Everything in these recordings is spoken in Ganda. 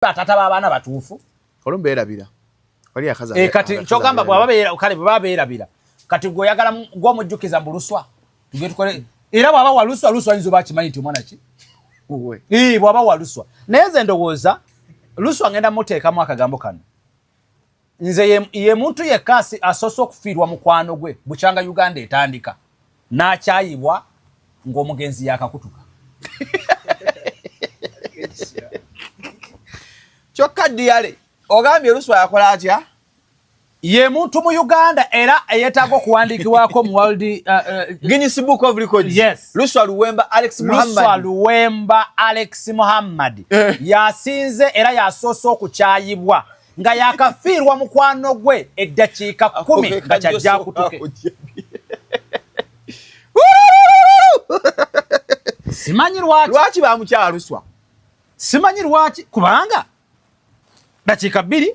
batata babaana batuufu olumu beerabira e, kati kyogamba bwabakale bwebaba beerabira kati gweoyagala gwomujjukiza mbu luswa tugetukole era bwaba waluswa luswa yinza oba akimanyi nti omwana ki bwaba waluswa naye nze ndowooza luswa ngenda muteekamu akagambo kano nze ye muntu yekka asoose okufiirwa mukwano gwe bukyanga uganda etandika n'akyayibwa ng'omugenzi yakakutuka kyokka diyale ogambye olusu akola atya ye muntu mu uganda era eyetaaga okuwandiikibwako mu world uh, uh, guinness book of records yes Luswa Luwemba Alex Muhammad, Luswa Luwemba Alex Muhammad eh. yasinze era yasoose okukyayibwa nga yakafiirwa mukwano gwe eddakiika kumi nga kyajja kutuke simanyi lwaki lwaki bamukyaluswa simanyi lwaki kubanga dakiika bbiri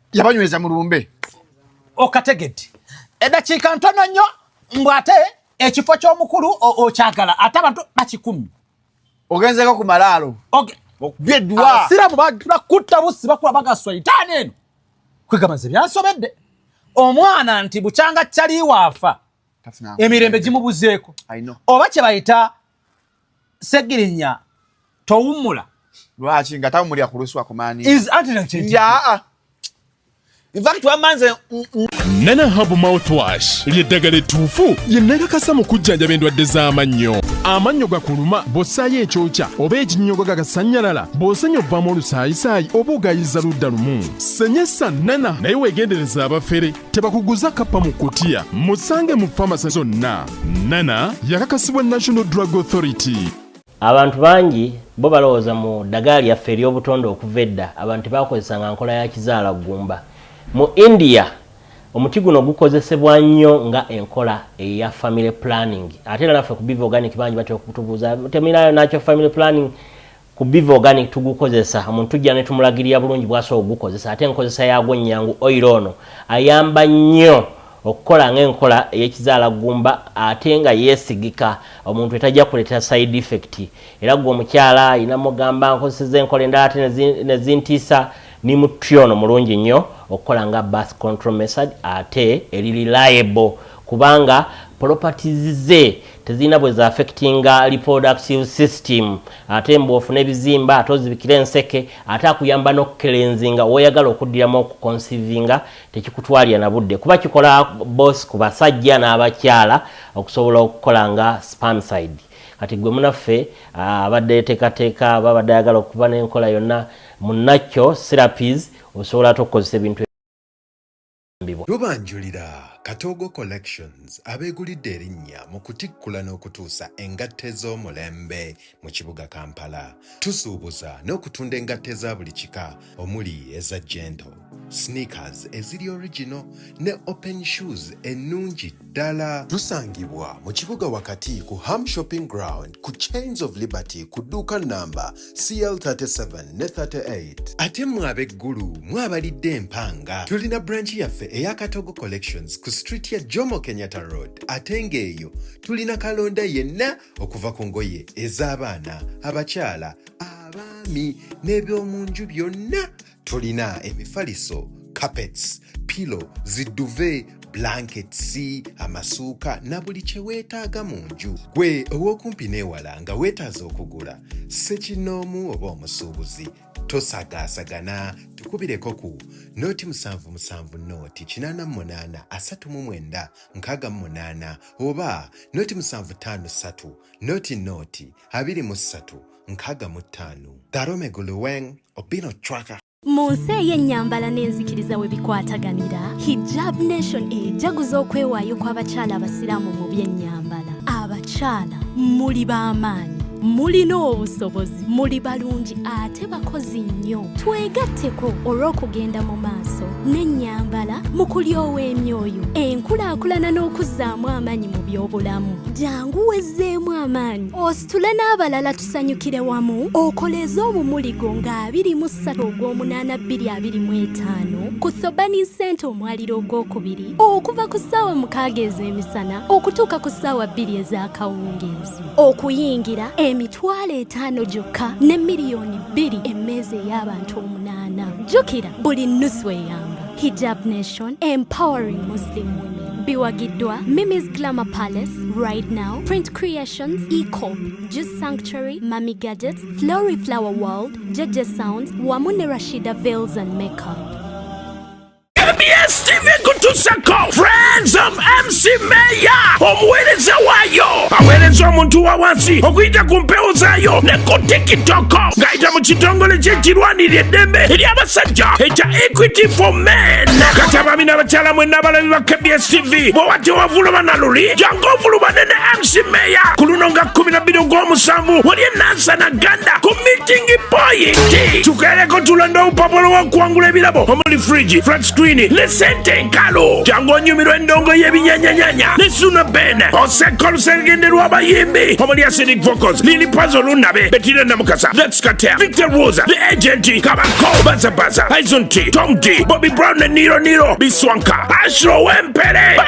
yabanyweza mu lumbe okategedde eddakiika ntono nnyo mbu ate ekifo ky'omukulu okyagala ate abantu bakikumi ogenzeko ku malaalo abasiraamu bagenda kutta bussi bakula bagaswa itaani eno kwegamba nze byansobedde omwana nti bukyanga kyaliwaafa emirembe gimubuzeeko oba kye bayita segirinya towummula lwaki nga tawumulira ku lusuwa kumani yaa infact wamanze nana habu mouthwash lyeddagala ettuufu lye nakakasa mu kujjanjaba endwadde z'amannyo amannyo gakuluma bw'ossaayo ekyokya oba ekinnyogo gagasannyalala bw'osenya ovaamu olusaayisaayi oba ogayiza ludda lumu senyesa nana naye weegendereza abafere tebakuguza kappa mu kutiya musange mu famasi zonna nana yakakasibwa national drug authority abantu bangi bo balowooza mu ddagala lyaffe ery'obutonde okuva edda abantu tebakozesanga nkola ya kizaala ggumba mu india omuti guno gukozesebwa nnyo nga enkola eya family planning ate era naffe ku biva organic bangi batera okutubuuza temirayo nakyo family planning ku biva organic tugukozesa omuntu tujja ne tumulagirira bulungi bwasobola okugukozesa ate enkozesa yaagwo nnyangu oil ono ayamba nnyo okukola ng'enkola ey'ekizaala ggumba ate nga yeesigika omuntu etajja kuleetera side effect era gwe omukyala alina mugamba nkozeseza enkola endala ate nezintiisa ni muti ono mulungi nnyo okukola nga birth control method ate eri reliable kubanga properties ze tezirina bwe zaafekitinga reproductive system ate mbu ofuna ebizimba ate ozibikira enseke ate akuyamba n'okukelenzinga woyagala okuddiramu okukonsivinga tekikutwalira na budde kuba kikola bosi ku basajja n'abakyala okusobola okukola nga spamside kati gwe munaffe ah, abadde yeteekateeka babadde ayagala okuba n'enkola yonna munakyo serapis osobola ate okukozesa ebintu kuyambibwa. Lubanjulira Katoogo Collections abeegulidde erinnya mu kutikkula n'okutuusa engatto ez'omulembe mu kibuga Kampala. Tusuubuza n'okutunda engatto eza buli kika omuli eza gentle, sneakers eziri original ne open shoes ennungi ddala. Tusangibwa mu kibuga wakati ku Ham Shopping Ground ku Chains of Liberty ku dduuka nnamba CL37 ne 38. Ate mwe ab'e Gulu mwabalidde empanga tulina branchi yaffe eya Katogo Collections ku street ya Jomo Kenyatta Road ate ng'eyo tulina kalonda yenna okuva ku ngoye ez'abaana, abakyala, abaami n'eby'omu nju byonna tulina emifaliso carpets pilo ziduve blankets amasuuka na buli kye weetaaga mu nju gwe ow'okumpi n'ewala nga weetaaza okugula sekinnoomu oba omusuubuzi tosagaasagana tukubireko ku nooti musanvu musanvu nooti kinaana mu munaana asatu mu mwenda nkaaga mu munaana oba nooti musanvu ttaano ssatu nooti nooti abiri mu ssatu nkaaga mu ttaano darome guluweng Obino Chwaka. mu nsi ey'ennyambala n'enzikiriza we bikwataganira hijab nation ejaguza okwewaayo kw'abakyala abasiraamu mu by'ennyambala abakyala muli b'amaanyi mulina obusobozi muli balungi ate bakozi nnyo twegatteko olw'okugenda mu maaso n'ennyambala mu kulyowa emyoyo enkulaakulana n'okuzzaamu amaanyi mu by'obulamu jangu wezzeemu amaanyi tule n'abalala tusanyukire wamu okoleeze omumuligo nga 23 ogw'omunaana 225 ku thobani nsente omwaliro ogwokubiri okuva ku ssaawa mukaaga ez'emisana okutuuka ku ssaawa bbiri ez'akawungeezi okuyingira emitwalo etaano gyokka ne miliyoni bbiri emmeeza ey'abantu omunaana jjukira buli nnusu eyamba hijab nation empowering muslim women biwagiddwa mimis glamour palace right now print Creations, Ecop, Juice Sanctuary, Mami Gadgets, Flory Flower World, Jeje Sounds, Wamune Rashida Veils and Makeup. KBS TV kutusako Friends of MC Mayor omuweereza waayo aweereza omuntu wa wansi okuyita ku mpewo zaayo ne ku tikitoko ng'ayita mu kitongole ky'ekirwanirira eddembe eri abasajja ekya Equity for Men kati abaami n'abakyala mwenna abalabi ba KBS TV bwe watewavuluma na luli kofulumane ne mc meya ku luno nga 12 ogw'omusanvu wali enansana ganda ku mitingi poyinti tukeereko tulonda obupapula wakuwangula ebirabo omuli frigi flat screen ne sente enkalu jangu onyumirwa endongo y'ebinyanyanyanya ne suna ben oseka olusengende lw'abayimbi omuli acidic vocals lili pazo lunabe betira namukasa lets katea victor rosa the agent kabako bazabaza aison t tom d bobby brown ne niro niro biswanka ashro wempere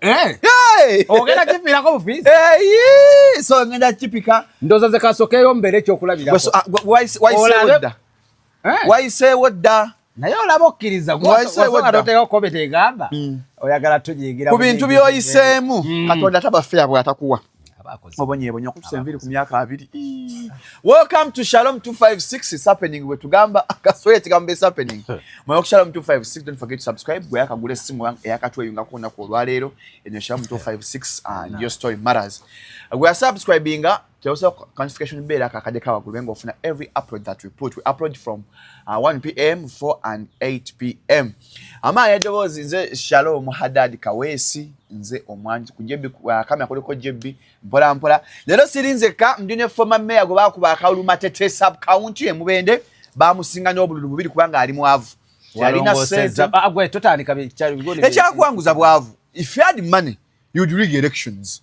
Eh. Hey! Ogenda kifiirako bufiizi. Hey! So ngenda kipika. Ndoza ze kasokeyo mbere ekyo kulabira. Ah, why why say wodda? Eh? Why say wodda? Naye olaba okkiriza gwasooka kobe tegamba hmm. oyagala tujigira ku bintu byoyiseemu hmm. katonda taba ffe abwe atakuwa obonyebonye okutusa enviri ku myaka abiri welcome to shalom 256 is happening wetugamba kasole ekigambo is happening mwe ku shalom 256 don't forget to subscribe gwe yakagula essimu eyakatweyunga ku lunaku olwaleero enyo shalom 256 and your story matters gwe yasubscribinga teosa quantification beera kakade kawagulu benga ofuna every upload that we put we upload from uh, 1 pm 4 and 8 pm amaanyi edoboozi nze shalom hadad kaweesi nze omwanji kujebi kamera kuliko jebi mpolampola leero siri nzekka ndi ne foma meya gwe bakuba akawulu matete sub county emubende bamusinga n'obululu bubiri kubanga ali mwavu yalina sente ah, ekyakuwanguza bwavu if you had money you'd rig elections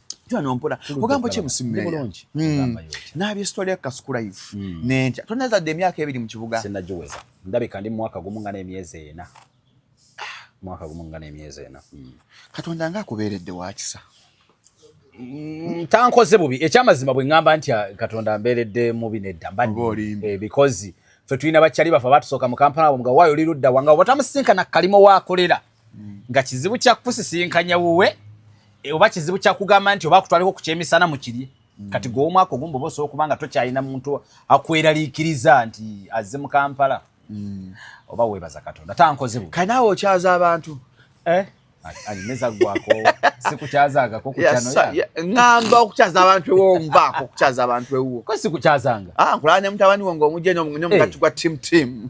Jwano mpura ogambo kye musimme bulungi hmm. nabye story ya kasuku live hmm. nentya toneza de myaka ebiri mu kibuga sina joweza ndabe kandi mwaka gumu ngana emyeze ena mwaka gumu ngana emyeze ena hmm. katonda nga akuberedde wakisa Mm, tankoze bubi ekyamazima bwe ngamba nti ah, katonda mberedde mubi nedda mbadde eh, because fe tulina bakyali bafa batusooka mu kampala nga wayo oli ludda wanga obatamusinkana kalimo waakolera mm. nga kizibu kya kusisinkanya wuwe e, oba kizibu kya kugamba nti oba kutwaliko ku kyemisana mu kirye mm. kati gwe omwaka ogumu bwoba osobola okuba nga tokyalina muntu akweraliikiriza nti azze mu kampala mm. oba weebaza katonda tankoze bu kale naawe okyaza abantu eh? alimeza gwako sikukyazangako ngamba okukyaza abantu ewonvaako okukyaza abantu ewuwo ko sikukyazanga ah, nkulanya mutabani wo ngaomujja nomugati gwa tim tim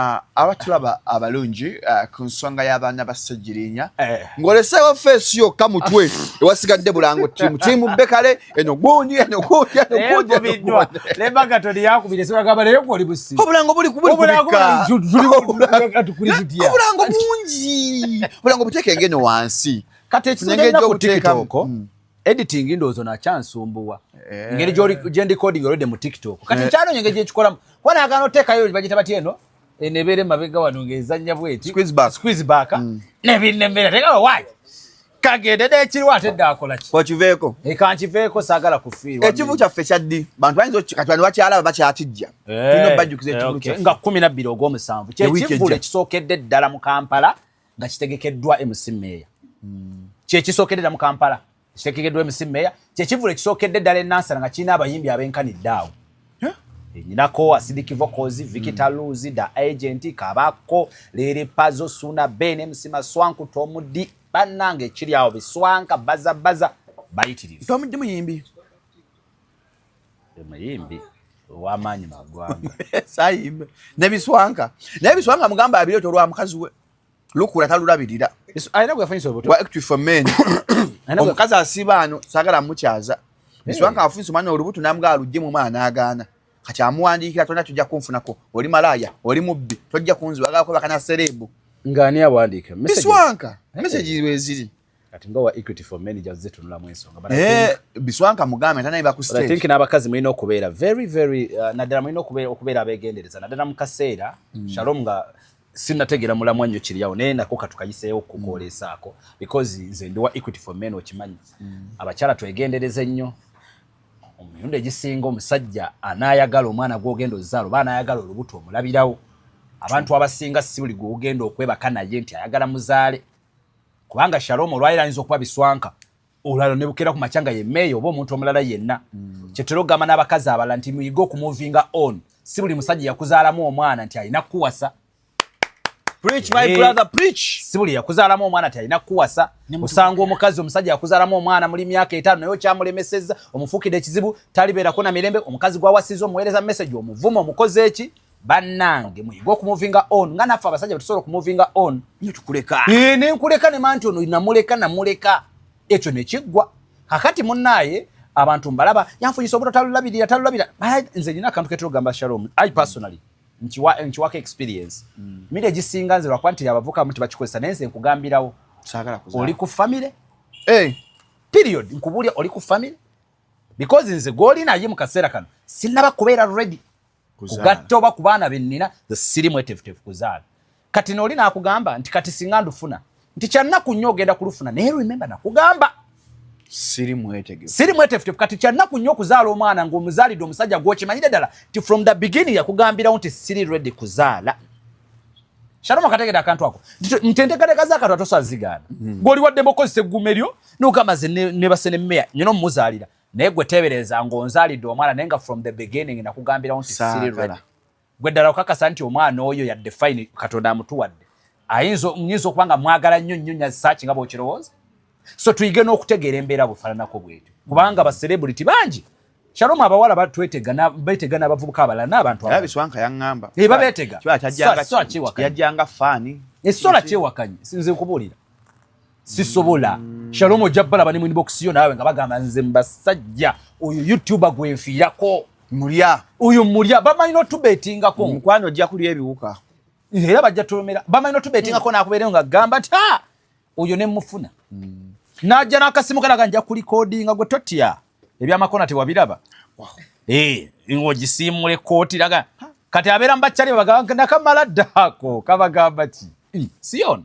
Ah, abatulaba abalungi ah, ku nsonga y'abaana ba ssegirinya eh. ng'oleseewo feesi yokka mutwe ewasigadde bulango tiimu kimubbe kale eno gundi eno gundi enoguudiembaga toli yakubire sibagamba naye gwoli busi obulango buli kubulango bungi obulango buteeke ng'eno wansi kati ekisenge ekyobuteekako editing ndowooza ono akyansumbuwa eh. ngeri gyendicoding olwedde mu tiktok kati eh. nkyanonya engeri gyekikolamu kuba nagana oteekayo bagita batya eno eh, nebeera emabega wano ngaezannya bweti squiz back mm. nebinemera tekawo wai kagende nekiriwo ate dde akolaki okiveeko ekankiveeko saagala kufiirwa ekivu kyaffe kyaddi bantu bayinza katwani bakyalaba bakyatijja tulina obajjukiza ekivu kyaffe nga kumi nabbiri ogwomusanvu kyekivulu ekisookedde ddala mu kampala nga kitegekeddwa MC Meeya hmm. kyekisookedera mu Kampala kitegekeddwa MC Meeya kyekivulu ekisookedde ddala enansana nga kirina abayimbi abenkanidde awo nyinako asidiki vokozi vikita luzi da agenti kabako lere pazo suna bene msima swanku tomudi banange kiri awo biswanka baza baza bayitiriri tomudi muyimbi muyimbi owamaanyi magwanga sayimbe nebiswanka naye biswanka mugamba abireeta olwa mukazi we lukula talulabirira omukazi asiba ano sagala mukyaza biswanka afunisa omwana olubuto namuga alugje mu mwana agaana kati amuwandiikira tolina tujja kunfunako oli malaaya oli mubbi tojja kunziwagako bakana sereebu ngaani awandiika biswanka mesegi weziri kati nga wa equity for many just zitunula mu ensonga but eh biswanka mugambe tanaye ba ku stage i think n'abakazi mulina okubeera very very uh, naddala mulina okubeera okubeera abeegendereza naddala mu kaseera mm. shalom nga sinategera mulamwa nnyo kiriyawo naye nako katukayiseewo okukwoleesaako mm. because nze ndi wa equity for men okimanyi mm. abakyala twegendereza ennyo omumirundi egisinga omusajja anaayagala omwana gwogenda ozaala oba anaayagala olubuto omulabirawo abantu abasinga si buli gwogenda okwebaka naye nti ayagala muzaale kubanga shalom olwaliro ayinza okuba biswanka olwaliro ne bukeera ku makya nga ye meeya oba omuntu omulala yenna mm. kyetera okugamba n'abakazi abalala nti muyige okumuvinga on si buli musajja yakuzaalamu omwana nti alina kukuwasa si buli yakuzaalamu omwana nti alina kukuwasa osanga omukazi omusajja yakuzaalamu omwana muli myaka etaano naye okyamulemesezza omufuukidde ekizibu talibeerako na mirembe omukazi gwawasiza omuweereza message omuvuma omukozi eki bannange muyige okumuvinga on nga naffe abasajja betusobola okumuvinga on nyo tukuleka ee nenkuleka ne manti ono namuleka namuleka ekyo nekiggwa kakati munnaaye abantu mbalaba yanfunyisa obuto talulabirira talulabira nze nina akantu ketera ogamba shalom i personally nkiwako experience mm. mira egisinga nze lwakuba nti abavukamu nti bakikozesa naye nze nkugambirawo oli ku famire eh. period nkubulya oli ku famire because nze gwoli naye mu kaseera kano sinaba kubeera ready kugatta oba ku baana bennina ze siri mwetefutefu kuzaala kati nooli nakugamba nti kati singa ndufuna nti kyannaku nnyo ogenda kulufuna naye rememba nakugamba siri mwetefutefu kati kyannaku nnyo okuzaala omwana ngaomuzaalidde omusajja gwokimanyire ddala nti from the beginning yakugambirawo nti siri redi kuzaala Shalom akategede akantu ako. Mtendekadeka zaka twatosa zigana. Mm. Goli wadde bokozi se gumeryo no kama ze ne, ne basene meya. Nyono muzalira. naye gwe teebereza ng'onzaalidde omwana naye nga from the beginning nakugambirawo nti siri ready gwe ddala okakasa nti omwana oyo yadde fine katonda amutuwadde ayinza nyinza okuba nga mwagala nnyo nnyo nyazisaaki nga bwokirowooza so tuyige n'okutegeera embeera bufaananako bwetyo kubanga baserebuliti bangi Shalom abawala batwetega na betega na bavubuka abala na abantu abala. Biswanka yangamba. Eh babetega. Kiba kyajanga. Yajanga fani. Esola kye wakanyi. Sinze kubulira. sisobola shalom ojja balaba ne mwinibokisiyo naawe nga bagamba nze mbasajja oyo youtuber gwenfiirako mulya oyo mulya bamanyi notubetingako mukwano ojja kulya ebiwuka era bajja tulumira bamanyi notubetingako nakubeereyo nga gamba nti ha oyo nemufuna mm. najja nakasimu kalaga nja kulikodinga gwe totya ebyamakona tewabiraba eh, ngogisiimula ekkooti laga kati abeera mbakyali babagamba nakamala ddaako kabagamba ki hmm. siyono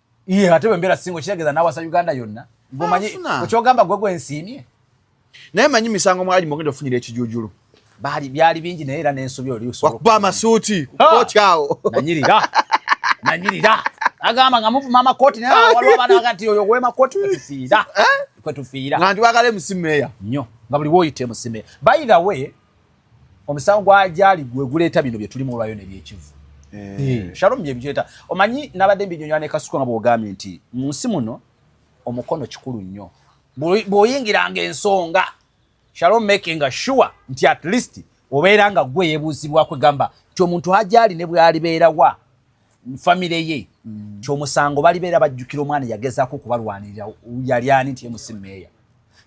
Iye ate bwe mbeera singo kitegeeza nawasa Uganda yonna. Ngomanyi okyogamba gwe gwe nsiimye. Naye manyi misango mwali mugenda ofunira ekijuujulu. Baali byali bingi naye era n'ensobi oli usoro. Wakuba amasuuti kooti awo. Nanyirira. Nanyirira. Agamba nga muvuma amakooti naye waliwo abaana bagati oyo gwema kooti kwe tufiira. Eh? Kwe tufiira. Nga ndi wagala emusimeeya. Nnyo. Nga buli wooyita emusimeeya. By the way, omusango gwajaali gwe guleeta bino bye tulimu olwayo ne byekivu eh. eh, shalom bye bijuleeta omanyi nabadde mbinyonyola ne kasuku nga bwogambye nti mu nsi muno omukono kikulu nnyo bw'oyingiranga ensonga shalom making sure nti at least obeera nga gwe yebuuzibwako egamba nti omuntu ajaali ne bwalibeerawa famire ye mm. nti omusango balibeera bajjukira omwana yagezaako okubalwanirira yali ani nti emusi meeya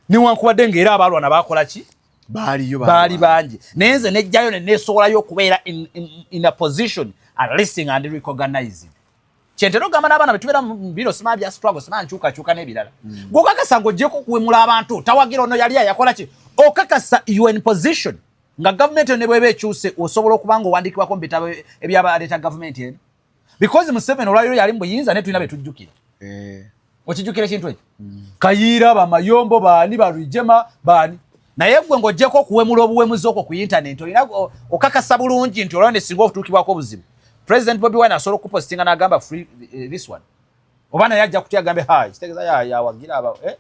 newankubadde ngaera abaalwana bakola ki baaliyo baali bangi naye nze nejjayo ne neesowolayo okubeera in, in, in a position at listing and recognizing kyentera ogamba n'abaana betubeera mubiro simaa bya struggle simaa nkyukakyuka n'ebirala mm. gwokakasa ngaogyeko okuwemula abantu tawagira ono yali ayakola ki okakasa you in position nga gavumenti eno ne bweba ekyuse osobola okuba nga owandiikibwako mu bitabo ebyabaleeta gavumenti eno because museveni olwaliro yali mubuyinza naye tulina betujjukira eh. okijjukira ekintu ekyo mm. kayiira bamayombo baani balwijema baani naye gwe ngaogyeko okuwemula obuwemuzi okwo ku intaneti olina okakasa bulungi nti olaba nesinga okutuukibwako obuzibu president bobi wine asobola okukupostinga nagamba free eh, this one oba naye ajja kutya agambe hayi kitegeza yawagira aba eh?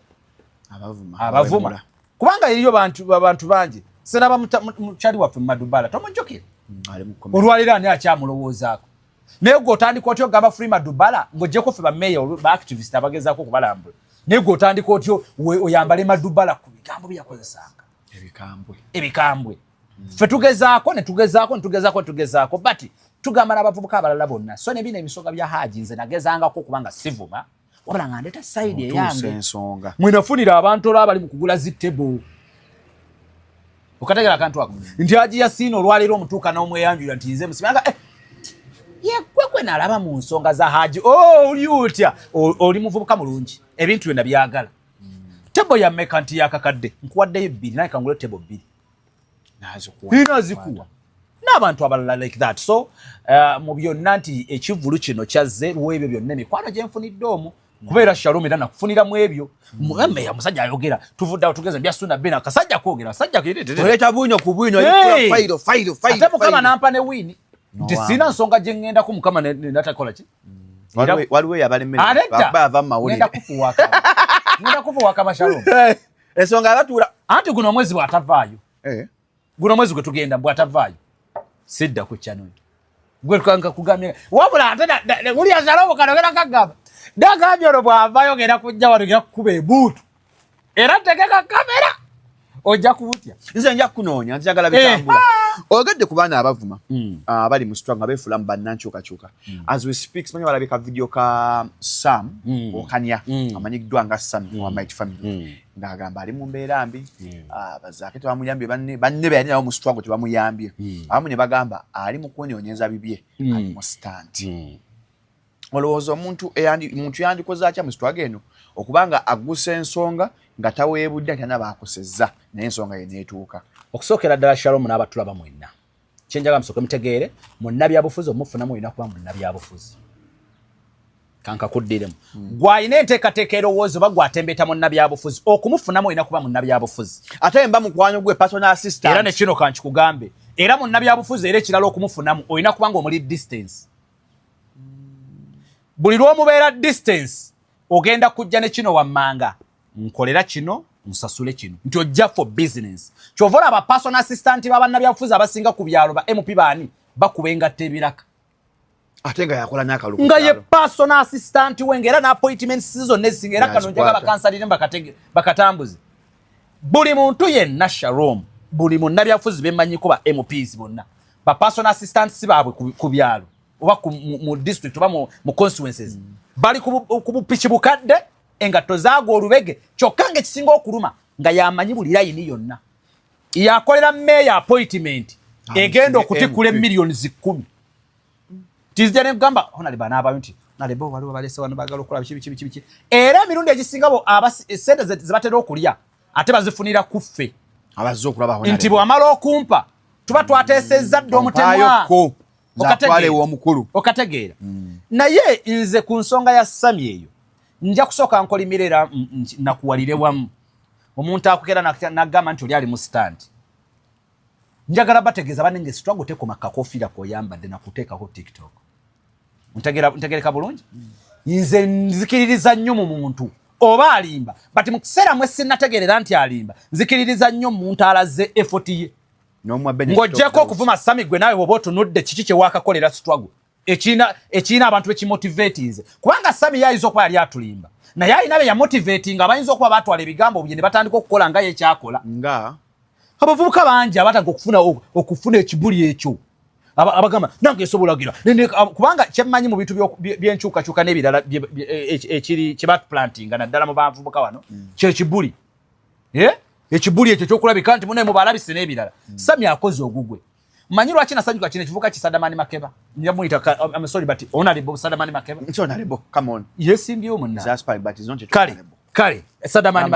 abavuma abavuma kubanga yeriyo bantu bantu bangi seraba mukyali waffe mumadubala tomujjukira mm, olwaliro ani akyamulowoozaako naye gwe otandika otya ogamba free madubala ng'ogyeko ffe bameeya baactivist abagezaako okubalambula naye gwe otandika otya oyambale madubala ku bigambo byeyakozesanga ebikambwe ebikambwe ffe tugezaako netugezaako netugezaako netugezaako but tugamba n'abavubuka abalala bonna so nebino ebisoga bya haaji nze nagezangako okuba nga sivuma wabula nga ndeeta saidi eyange mwenafunira abantu olwa bali mu kugula zi table okategera akantu ako nti aji yasiina olwaleero omutuuka n'omweyanjulira nti nze musima eh, yekwe gwe nalaba mu nsonga za haji oh, oli otya oli muvubuka mulungi ebintu byonna byagala tebo yameka nti yakakadde nkuwaddeyo bbiri naye kangule tebo bbiri nazikuwa n'abantu abalala like that so uh, mu byonna nti ekivvulu kino kyazze lw'ebyo byonna emikwano gye nfunidde omu kubeera shalom era nakufunira mu ebyo mugambe ya musajja ayogera tuvudde awo tugeze bya sunna bena kasajja kwogera sajja kuleta bunyo ku bunyo fairo fairo fairo ate mukama nampa ne wini nti sina nsonga gye ŋŋendako mukama natakola ki waliwo yabalemera baba ava mu mawulire ŋenda kufuwaka ŋenda kufuwaka bashalom ensonga abatuula anti guno omwezi bwatavaayo eh. guno omwezi gwe tugenda bwatavaayo sidda ku chanoni gwe tukanka kugambye wabula ate uli azala obukana ogenda kagamba dagambye olwo bwavayo ogenda kujja wano ogenda kukuba ebuutu era tegeka kamera ojja kubutya nze nja kukunoonya nzagala eh, bitambula oyogedde ku baana abavuma hmm. ah, abali mu sitwa nga beefulamu bannankyukakyuka Mm. As we speak, simanyi walabye ka video ka Sam mm. Okanya mm. amanyikiddwa nga Sam mm. wa Might Family mm. ng'agamba ali mu mbeera mbi mm. ah, bazaake tebamuyambye banne banne beyali nabo mu struggle tebamuyambye mm. abamu ne bagamba ali mu kwenonyeza bibye mm. ali mu stand mm. olowooza omuntu muntu yandikoze atya mu sitwaga eno okuba nga aggusa ensonga nga taweebudde nti ana baakosezza naye ensonga ye neetuuka okusookera ddala shalomu n'abatulaba mwenna kyenjagala musooke mutegeere munnabyabufuzi omuffunamu olina kuba munnabyabufuzi kankakuddiremu hmm. gwalina enteekateeka erowooza oba gwatembeta munnabyabufuzi okumufunamu olina kuba munnabyabufuzi ate mba mukwano gwe personal assistant era nekino kankikugambe era munnabyabufuzi era ekirala okumufunamu olina kuba nga omuli distance buli lwomubeera distance ogenda kujja nekino wammanga nkolera kino nsasule kino nti ojja for business kyova olaba person assistant babannabyabufuzi abasinga ku byalo ba mp baani bakuba engatta ebiraka ate nga yakola nakalulu nga ye person assistant we ngaera na appointment season nesinga era kano njaga bakansalire bakatege bakatambuze buli muntu yenna sharom buli munnabyabufuzi bemanyiko ba mps bonna ba person assistant si baabwe ku byalo oba mu district oba mu consequences mm. bali ku bupiki bukadde engatto zaagwa olubege kyokka nga ekisinga okuluma nga yamanyi buli layini yonna yakolera meeya appointment egenda okutikkula emiliyoni zikkumi tizija nekugamba honaleba naabayo nti naleba waliwo balese wano bagala okukola biki biki biki biki era emirundi egisinga bo sente zebatera okulya ate bazifunira kuffe nti bwamala okumpa tuba twateesezza dda omutemwa omukulu okategeera mm. naye nze ku nsonga ya sami eyo nja kusooka nkolimira era nakuwalire wamu omuntu akugera nagamba nti oli ali mu stand njagala bategeeza banenge sitwago tekoma kakofiira koyambadde nakuteekako tiktok ntegereka bulungi mm. nze nzikiririza nnyo mu muntu oba alimba but mu kiseera mwe sinategeerera nti alimba nzikiririza nnyo muntu alaze efoti ye ng'ogyeko okuvuma sami gwe naawe oba otunudde kiki kyewakakolera struggle ekirina abantu bekimotivatinze kubanga sami yayinza okuba yali atulimba naye alina be yamotivatinga abayinza okuba batwala ebigambo bye ne batandika okukola nga yekyakola nga abavubuka bangi abatandika okufuna okufuna ekibuli ekyo abagamba nange esobolagira kubanga kyemmanyi mu bintu byenkyukakyuka n'ebirala e, e, ekiri kyebatplantinga naddala mu bavubuka wano mm. kyekibuli eh? ekibuli ekyo kyokulabika nti munaye mubalabise n'ebirala hmm. sami akoze ogugwe manyi lwaki nasanyuka kino ekivuka kisadamani makeba njamuyitaamsori but onalebo sadamani makeba yesimbyewo munakale kale sadamani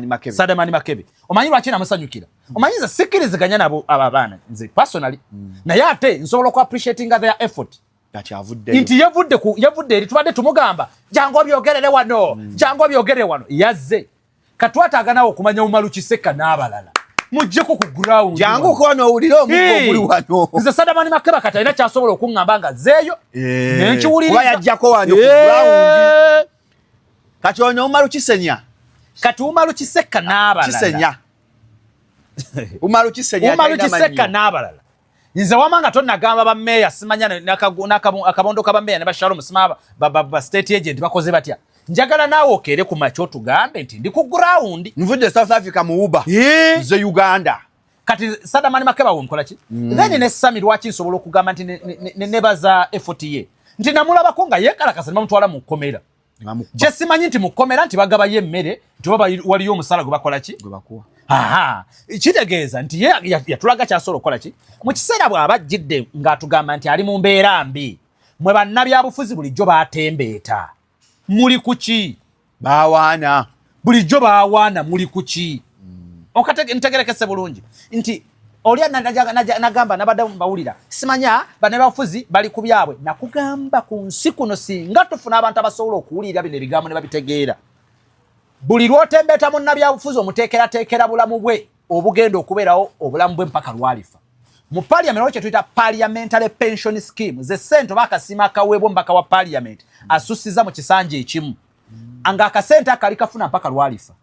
makebe sadamani makebe omanyi lwaki namusanyukira mm. omanyi nze sikiriziganya nabo abo abaana nze personally mm. naye ate nsobola oku appreciatinga their effort nti yavudde eri tubadde tumugamba jangu obyogerere wano mm. jangu obyogerere wano yazze katwataaga nawe okumanya umalu kiseka n'abalala mujjeko ku ground jangu kono owulire omugo omuli wano nze sadamani makeba kati alina kyasobola okuŋŋamba nga zeeyo eh. nenkiwuliriza yajjako wano ku eh. ground kati ono umalu kisenya kati umalu kiseka n'abalala kisenya umalu kisenya umalu kiseka n'abalala nze wama nga tonagamba ba mayor simanya nakabondo ka ba mayor ne ba shalom simaba ba, ba, ba state agent bakoze batya njagala naawe okeere ku makya otugambe nti ndi ku ground nvudde south africa mu uba ze uganda kati sadamani makeba wonkola ki mm. then ne sami lwaki nsobola okugamba nti nebaza ne, ne, ne, ne efoti ye nti namulabako nga yekalakasa ne bamutwala mu kkomera kyesimanyi nti mukomera nti bagabayo emmere nti oba waliyo omusala gwe bakola ki kitegeeza nti ye yatulaga kyasobola okukola ki mu kiseera bw'aba ajjidde ng'atugamba nti ali mu mbeera mbi mwe bannabyabufuzi bulijjo batembeeta muli ku ki bawaana bulijjo bawaana muli kuki mm. okategerekese bulungi nti oli nagamba nabadde mbawulira simanya banebafuzi bali ku byabwe nakugamba ku nsi kuno singa tufuna abantu abasobola okuwulira bino ebigambo ne babitegeera buli lwotembeeta munnabyabufuzi omuteekerateekera bulamu bwe obugenda okubeerawo obulamu bwe mpaka lwalifa mu parliament waliwo kyetuyita parliamentary pension scheme ze sente oba akasiima akaweebwa omubaka wa parliament asusiza mu kisanja ekimu anga akasente akali kafuna mpaka lwalifa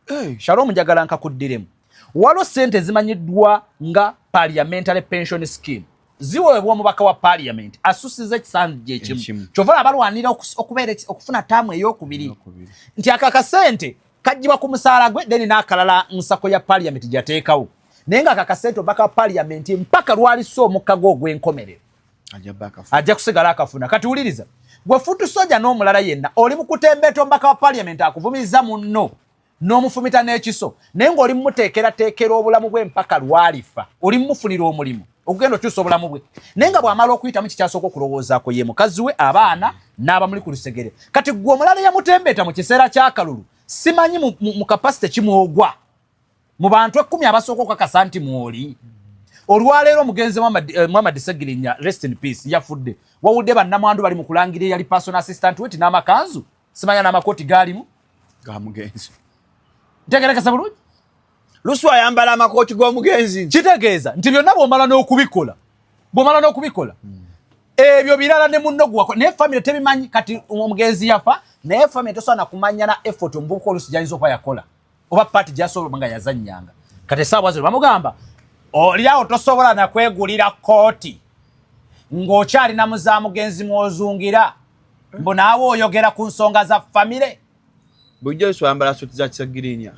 hey. shalom njagala nkakuddiremu waliwo sente ezimanyiddwa nga parliamentary pension scheme ziweebwa omubaka wa parliament asusiza ekisandu gyekimu kyova abalwanira okubeera okufuna taamu eyokubiri nti ako akasente kajjibwa ku musaala gwe then n'akalala nsako ya parliament gyateekawo naye nga ako akasente omubaka wa parliament mpaka lwalisa omukka gwe ogw'enkomerero ajja kusigala akafuna kati wuliriza gwe futu soja n'omulala yenna oli mukutembeeta omubaka wa paliament akuvumiza munno n'omufumita n'ekiso naye ng'oli mumuteekerateekera obulamu bwe mpaka lwalifa oli mumufunira omulimu okugenda okyusa obulamu bwe naye nga bw'amala okuyitamu kikyasooka okulowoozaako ye mukazi we abaana n'abamuli ku lusegere kati gwe omulala yamutembeeta mu kiseera ky'akalulu simanyi mu kapasite kimwogwa mu bantu ekkumi abasooka okukakasa nti mwoli olwaleero omugenzi eh, muhammad segirinya rest in peace yafudde wawudde bannamwandu bali mu kulangira eyali personal assistant weti n'amakanzu simanya n'amakooti gaalimu gamugenzi ntegerekesa bulungi lusu ayambala amakooti g'omugenzi kitegeeza nti byonna bwomala n'okubikola bwomala n'okubikola hmm. ebyo birala ne munno gwewako naye famire tebimanyi kati omugenzi yafa naye famire tosobola nakumanya na effort omuvubuka olusi gyayinza okuba yakola oba pati gyasobola nga yazanyanga kati esaawa zino bamugamba olyawo tosobola nakwegulira kooti ng'okyalina muzamugenzi mwozungira mbu naawe oyogera ku nsonga za famire bulijjo eswambala suti za kisagirinya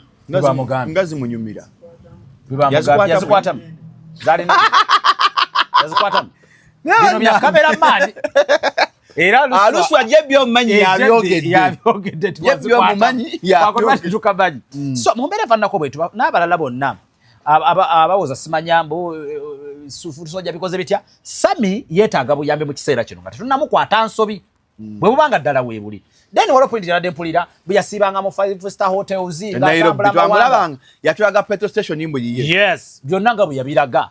nga zimunyumira yazikwatamu zalina yazikwatamu bino bya kamera maani era alusu ah, ajja byo manyi ya byogedde ya byogedde twazikwata byo manyi ya byogedde tukabanyi mm. so mumbere vanna ko bwetu na balala bonna aba abawoza simanyambo eh, eh, sufu soja bikoze bitya sami yetaga buyambe mu kiseera kino ngati tunamu kwa tansobi mm. bwe bubanga dala we buli then wala point jana dempulira buya sibanga mu five star hotels nga bula bula yatwaga petrol station imbu yiye yes byonna nga buya biraga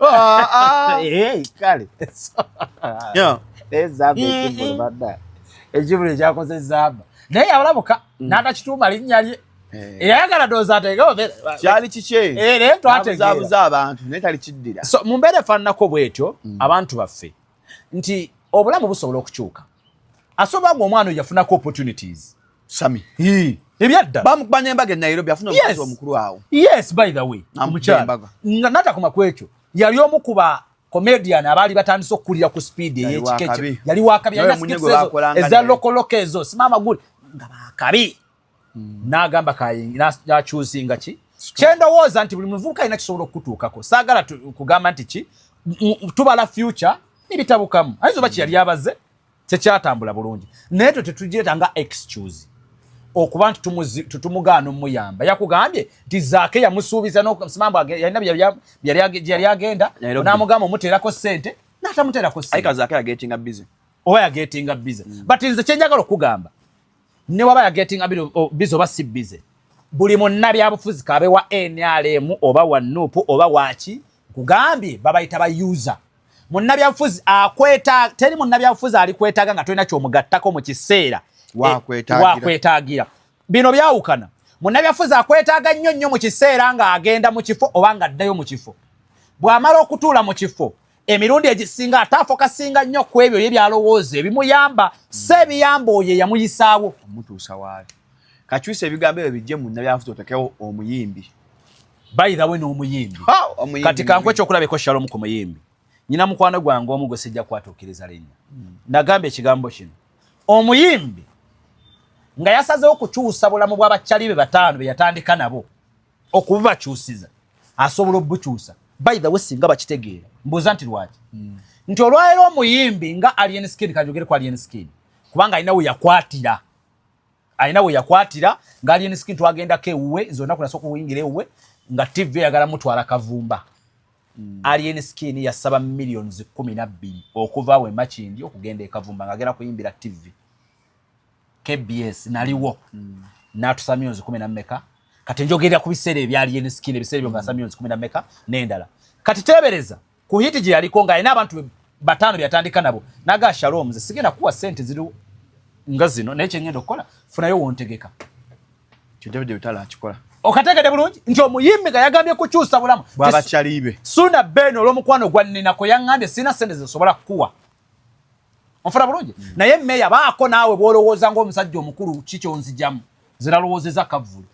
Ah, ah. Eh, kale ekibuli ekyakoze zamba naye yabalabuka mm. n'atakituuma linnya lye eh. eyayagala doozi ateegekyali kikyenaye eh, twategeeabuza abantu naye tali kiddira mu mbeera efaananako bwetyo mm. abantu baffe nti obulamu busobola okukyuka asobola gwe omwana oyo yafunako opportunities sami ebyadda bamukubanya embaga e nairobi afuna omukazi omukulu awo yes by the way omukyala nga natakoma ku ekyo yali omu kuba comedian abaali batandise okukulira ku speed eyekika ekyo yali wakabi eza lokoloko ezo simama guli nga bakabi mm. n'agamba nakyuzinga ki kyendowooza nti buli muvubuka alina kisobola okukutuukako saagala kugamba nti ki tubala future nebitabukamu ayinza oba kyeyali abaze tekyatambula bulungi naye twe tetugireta nga excuse okuba nti tumugaana omuyamba yakugambye nti zaake yamusuubiza nosimambu yalina byeyali agenda namugamba omuteerako sente natamuteerako sente oba yagetinga bize mm. but nze kyenjagala okugamba ne waba ya getting a bit of oh, busy oba si busy buli munna byabufuzi kabe wa nrm oba wa nup oba waki kugambye babayita ba user munna byabufuzi akweta teri munna byabufuzi alikwetaga nga tolina kyomugattako mu kiseera wakwetagira eh, bino byawukana munna byabufuzi akwetaga nnyo nnyo mu kiseera ng'agenda mu kifo oba ng'addayo mu kifo bw'amala okutuula mu kifo emirundi egisinga ate afokasinga nnyo ku ebyo ye byalowooza ebimuyamba si ebiyamba oyo eyamuyisaawo omutuusa waali kakyusa ebigambo ebyo bijje munna byafuta otekewo omuyimbi bayirawe n'omuyimbi kati kankwe ekyokulabeko shalom ku muyimbi nyina mukwano gwange omu gwe sijja kwatuukiriza linnya hmm. nagamba ekigambo kino omuyimbi nga yasazewo kukyusa bulamu bw'abakyali be bataano be yatandika nabo okububakyusiza asobola obubukyusa by the way singa bakitegeera mbuuza nti lwaki mm. nti olwaleero omuyimbi nga alien skin kanjogere ku alien skin kubanga alina we yakwatira alina we yakwatira nga alien skin twagendako ewuwe nze onaku nasoka okuyingira ewuwe nga tv eyagala mutwala kavumba mm. alien skin yasaba millions kumi nabbiri okuva we makindi okugenda ekavumba nga agenda kuyimbira tv kbs naliwo mm. natusa myonzi kumi nameka kati njogerera ku biseera ebyali enskin ebiseera ebyo ngasa myonzi kumi nameka nendala kati tebereza ku hiti gye yaliko ng'alina abantu bataano byatandika nabo naga shalom nze sigenda kuwa sente ziri nga zino naye kyengenda okukola funayo wontegeka okategede bulungi nti omuyimbi nga yagambye kukyusa bulamu bwabakyalibe suna ben olwomukwano gwaninako yaŋambye sirina sente zesobola kukuwa ofuna bulungi mm. naye meya baako naawe bwolowooza ngaomusajja omukulu kikyonzijamu ziralowoozeza kavulu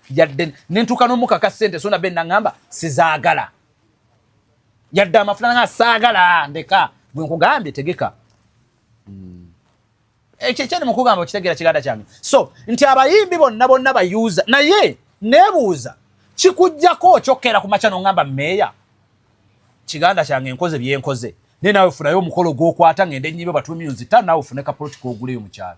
yadde nentuuka nomukaka sente sona be naŋamba sizaagala yadde amafuna nga saagala ndeka gwe nkugambye tegeka mm. ekyo ekyani mukugamba okitegeera kiganda kyange so nti abayimbi bonna bonna bayuuza naye nebuuza kikujjako okyokkeera ku makya noŋamba meeya kiganda kyange nkoze byenkoze naye nawe funayo omukolo gwokwata ngende enyibe batu myuzi ta nawe fune ka political oguleyo mukyalo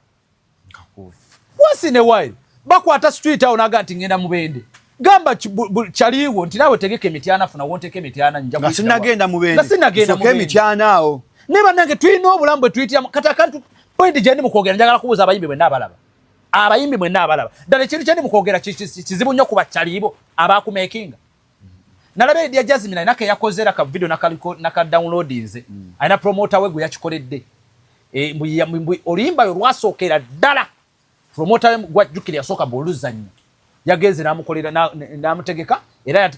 once in a while bakwata street awo naga nti ngenda mubende gamba kyaliwo nti nawe tegeka emityana funa wonteka emityana njasinagenda mubendemityana awo naye banange tulina obulamu bwe tuyitiramu kati akantu pointi gyendi mukwogera njagala kubuuza abayimbi bwenna abalaba abayimbi mwenna abalaba ddala ekintu kyendi mukwogera kizibu nnyo ku bakyaliibo abakumekinga nalaba edia jasmine alina keyakoze era ka video nakaliko naka download nze mm. alina promoter we gwe yakikoledde e, oluyimba yo lwasookera ddala promoter we gwajjukira yasooka mbu oluzannya yagenze namukolera namutegeka era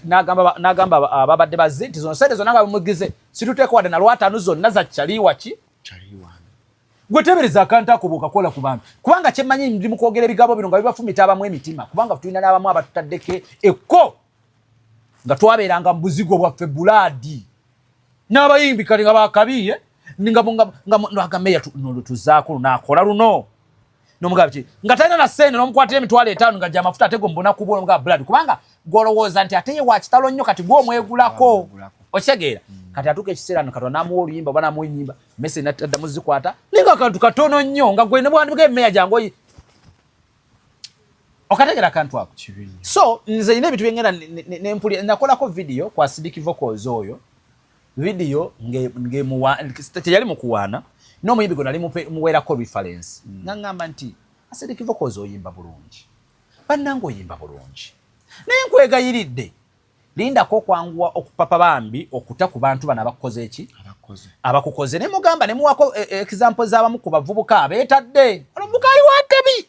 nagamba ababadde bazze nti zona sente zona nga bemugize situteeka wadde nalwataanu zonna zakyaliwaki gwe tebereza akantu ako bwokakola ku bantu kubanga kyemmanyi ndi mu kwogera ebigambo bino nga bibafumita abamu emitima kubanga tulina n'abamu abatutaddeko ekko nga twabeeranga mu buzigo bwaffe bulaadi n'abayimbi kale nga bakabiye nga nga nga nga meya no lutuzaako lunakola luno nomugaba ki nga talina na sente nomukwatira emitwalo etaano nga gyamafuta ate gwe mubona kubwa omugaba buladi kubanga gwolowooza nti ate ye wakitalo nnyo kati gwe omwegulako okitegeera mm. kati atuuka ekiseera no katonda namuwa oluyimba oba namuwa enyimba mese nadda muzikwata naye nga kantu katono nnyo nga gwe nebwandibika emeya gyange oyi okategera akantu ako so nze ina ebintu byengenda nakolako vidiyo kwa sidiki vocals oyo vidiyo teyali mukuwaana n'omuyimbi gwe nali muweerako reference mm. naŋŋamba nti asediki vocals oyimba bulungi bannanga oyimba bulungi naye nkwegayiridde lindako okwanguwa okupapa bambi okuta ku bantu bano abakukoze eki abakukoze ne mugamba ne muwako e, e, example z'abamu ku bavubuka abeetadde omuvubuka ali watebi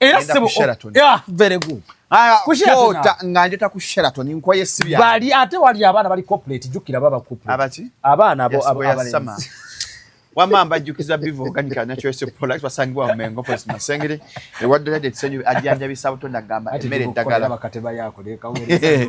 era sebo oh, Sheraton yeah very good aya ku Sheraton kota nganje ta ku Sheraton nkoye sibya bali ate wali abana bali corporate jukira baba corporate abati abana abo abo abali sama wama mbajukiza bivu kani kana chwe se polite wasangi wa mengo pos na sengire e wadde ya detsenyu ajanja bisabu to ndagamba mere dagala bakateba yako de kawere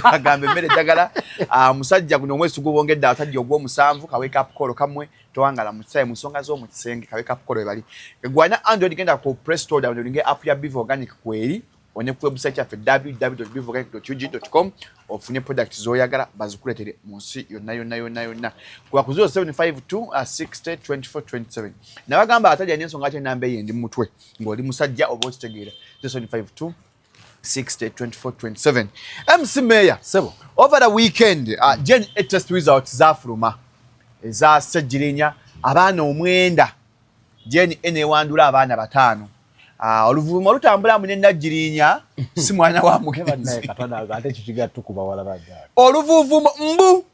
agambe mere dagala ah, musajja kuno mwesu gubongedda atajja ogwo musanvu ka wake up call kamwe tewangala mu kisawe mu nsonga z'omu kisenge kabe kakukola we bali egwanya android genda ku press store download nge app ya biv organic kweri one ku website yaffe www.bivorganic.ug.com ofune product z'oyagala bazikuletere mu nsi yonna yonna yonna yonna kuba ku 0752602427 nabagamba atalya n'ensonga ate enamba eyo endi mu mutwe ng'oli musajja oba okitegeera 0752 60, 24, 27. MC Mayor, Sebo. over the weekend, uh, mm. Jen test results zafuluma eza Ssegirinya abaana omwenda Jen enewandula abaana batano uh, oluvuma olutambula mu Nnagirinya si mwana wa mugenzi oluvuvuma mbu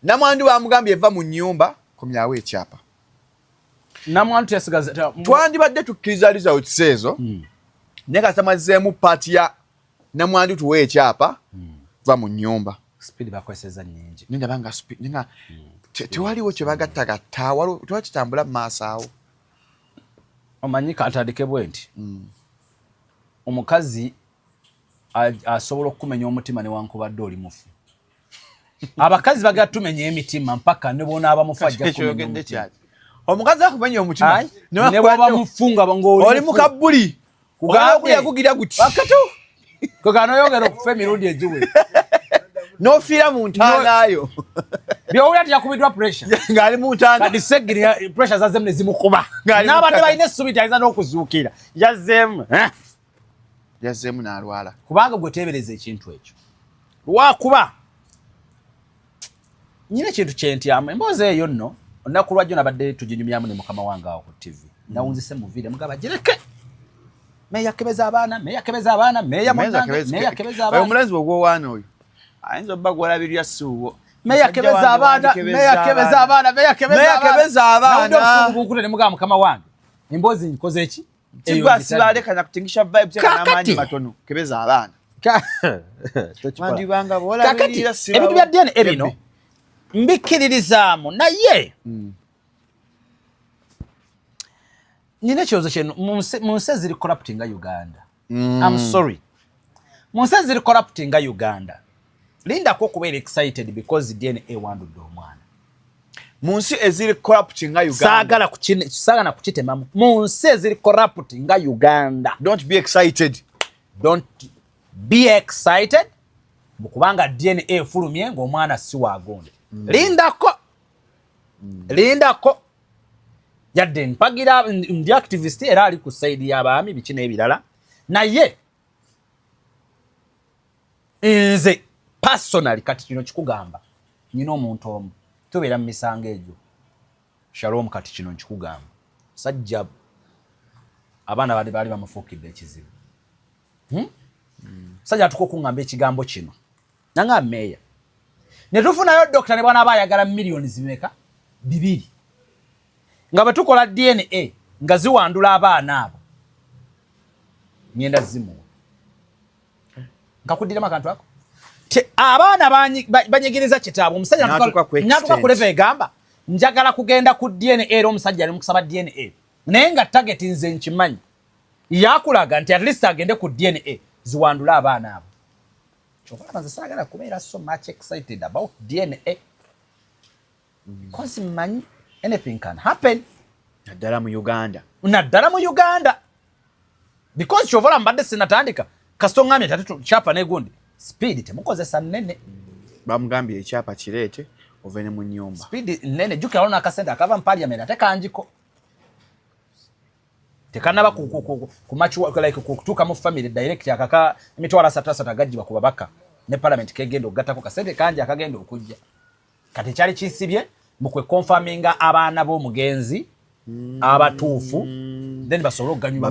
Namwandu bamugambye va mu nyumba komyawo ekyapa. Namwandu yasigaza twandibadde tukkiriza results ezo. Hmm. Naye kasita mazzeemu paati ya namwandu tuwe ekyapa hmm. va mu nyumba. Speed bakozesa nyingi. Ninda banga speed ninga hmm. tewaliwo kye bagattagatta waliwo tuba kitambula mu maaso awo. Omanyi kantandike bwe nti omukazi asobola okukumenya omutima newankubadde oli mufu. abakazi bagala tumenya emitima mpaka ne bwonaaba mufu ajja kumenya omutima omukazi akumenya omutima ne bwaba mufu nga ng'oli mu kabbuli kugamba okuyakugira guti wakati kugano yogera okufa emirundi egiwe nofiira mu ntaanaayo byowulira tiyakubiddwa pressurengaali mu ntaanadiseggiri pressure zazemu ne zimukuba n'abadde balina essubi tayinza n'okuzuukira yazemu eh? yazzeemu n'alwala kubanga gwe teebereza ekintu ekyo lwakuba nyina ekintu kyentyamu emboozi eyo nno olunaku lwajjo nabadde tuginyumyamu ne mukama wange awo ku tivi mm. nawunzise mu viire mugaba gireke meyakebeza abaana meyakebeza abaana meyameyakebeza abaana omulenzi wogwowaana oyo ayinza obba gwolabirya siuwo meyakebeza abaana meyakebeza abaana meyakebeza abaana mugaba mukama wange emboozi nkoze ki Tigwa sibale kana kutingisha vibes kana manyi matono kebeza abana. Mandi banga bola kakati ebintu bya DNA ebino mbikiririzaamu naye mm. nina ekirowoozo kyenu mu nsi eziri corruptinga Uganda mm. I'm sorry mu nsi eziri corruptinga Uganda lindako okubeera excited because dna ewandudde omwana mu nsi eziri corrupt nga uganda saagala kukitemamu mu nsi eziri corrupt nga uganda don't be excited don't be excited mukubanga dna efulumye ngaomwana si wagundi mm. lindako mm. lindako yadde mpagira ndi activist era ali ku saidi y'abaami biki n'ebirala naye nze personally kati kino kikugamba nyina omuntu omu tubeera mu misango egyo shalom kati kino nkikugamba sajja abaana bali baali bamufuukidde ekizibu hmm? sajja atuka okungamba ekigambo kino nanga meeya ne tufunayo dokita ne bwana aba ayagala milioni zimeka bibiri nga bwe tukola dna nga ziwandula abaana abo ngenda zimuwa nkakuddiramu akantu ako abaana banyigiriza kitaabwe omusajja natuka ku leva egamba njagala kugenda ku dna era omusajja ali mukusaba dna naye nga target nze nkimanyi yakulaga nti at least agende ku dna ziwandule abaana abo kyova laba nze saagala kubeera so much excited about dna because mmanyi anything can happen naddala mu uganda naddala mu uganda because kyova laba mbadde sinatandika kasita oŋambye tati kyapa negundi speed temukozesa nnene bamugambye ekyapa kireete ove ne mu nyumba speed nnene jukira wano akasente akava mu parliament ate kangiko tekanaba kutuuka mu family direct akaka emitwalo asatu asatu agajjibwa ku babaka ne palamenti kegenda okugattako kasente kangi akagenda okujja kati ekyali kisibye mu kwe konfaminga abaana b'omugenzi abatuufu then basobole okuganyulwa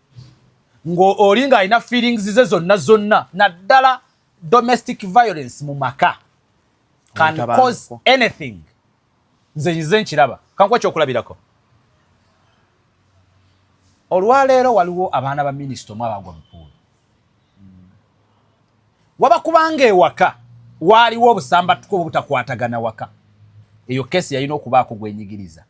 ng'oli ng'alina feelings ze zonna zonna naddala domestic violence mu maka can cause anything nze nyize nkiraba kankuwa kyokulabirako olwaleero waliwo abaana ba minisita omu abagwa mupuulu waba kubanga ewaka waaliwo obusambatuka obutakwatagana waka eyo kesi yalina okubaako gwenyigiriza